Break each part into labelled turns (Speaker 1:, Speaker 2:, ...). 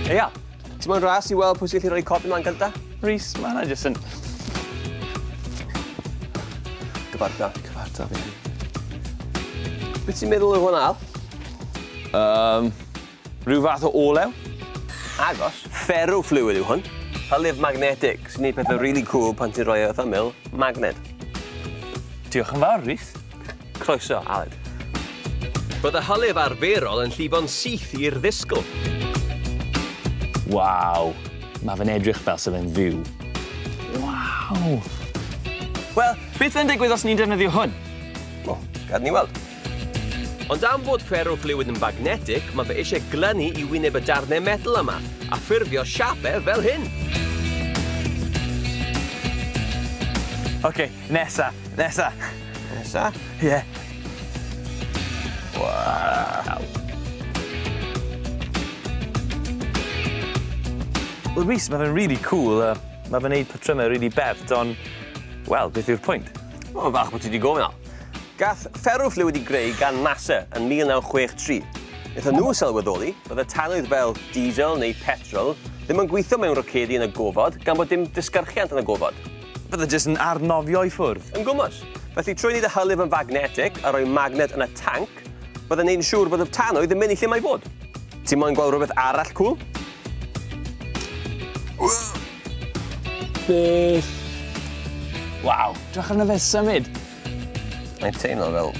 Speaker 1: Eia, ti'n mwyn ras i weld pwy sy'n gallu rhoi codi mlaen gynta? Rhys, mae yna jyst yn... Gyfarta. Gyfarta fi. Beth ti'n meddwl o hwn al? Um, rhyw fath o olew? Agos. Ferro fluid yw hwn. Halif magnetic, sy'n gwneud pethau really cool pan ti'n rhoi e wrth ymyl magnet. Diolch yn fawr, Rhys. Croeso, Aled. Bydd y hylif arferol yn llifo'n syth i'r ddisgl. Waw! Mae fe'n edrych fel sydd e'n fyw. Waw! Wel, beth fe'n digwydd os ni'n defnyddio hwn? O, gad ni weld. Ond am fod ferrofluid yn magnetic, mae fe eisiau glynu i wyneb y darnau metal yma, a ffurfio siapau fel hyn. OK, Nesa, nesa. Nesa? Ie. Yeah. Wow. Wel Rhys, mae fe'n really cool a mae fe'n neud patrymau really bert, ond, wel, beth yw'r pwynt? O, fach bod ti wedi gofyn o. Gath fferwff le wedi greu gan NASA yn 1963. Wnaethon nhw sylweddoli bod y tanwydd fel diesel neu petrol ddim yn gweithio mewn rocedi yn y gofod gan bod dim disgyrchiant yn y gofod. Bydde jyst yn arnofio i ffwrdd. Yn gwmws. Felly, trwy wneud y hylif yn fagnetig a rhoi magnet yn y tanc, bydde'n gwneud yn siŵr bod y tanwydd yn mynd i lle mae i fod. Ti moyn gweld rhywbeth arall cŵl? Beth? Waw, dwch arno fe symud! Mae'n teimlo fel...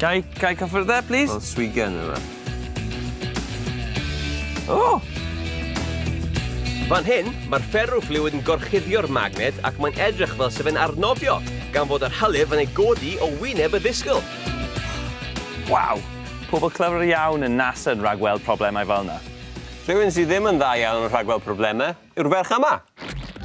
Speaker 1: Gai, gai cyffyrdde, plîs? Fel swigen yw e. O! Fan hyn, mae'r fferrofluid yn gorchuddio'r magnet ac mae'n edrych fel sef e'n arnofio, gan fod yr hylif yn ei godi o wyneb y ddisgyl. Waw! Pobl clyfr iawn yn NASA yn rhagweld problemau fel yna. Rhywun sydd ddim yn dda iawn yn rhagweld problemau yw'r ferch yma.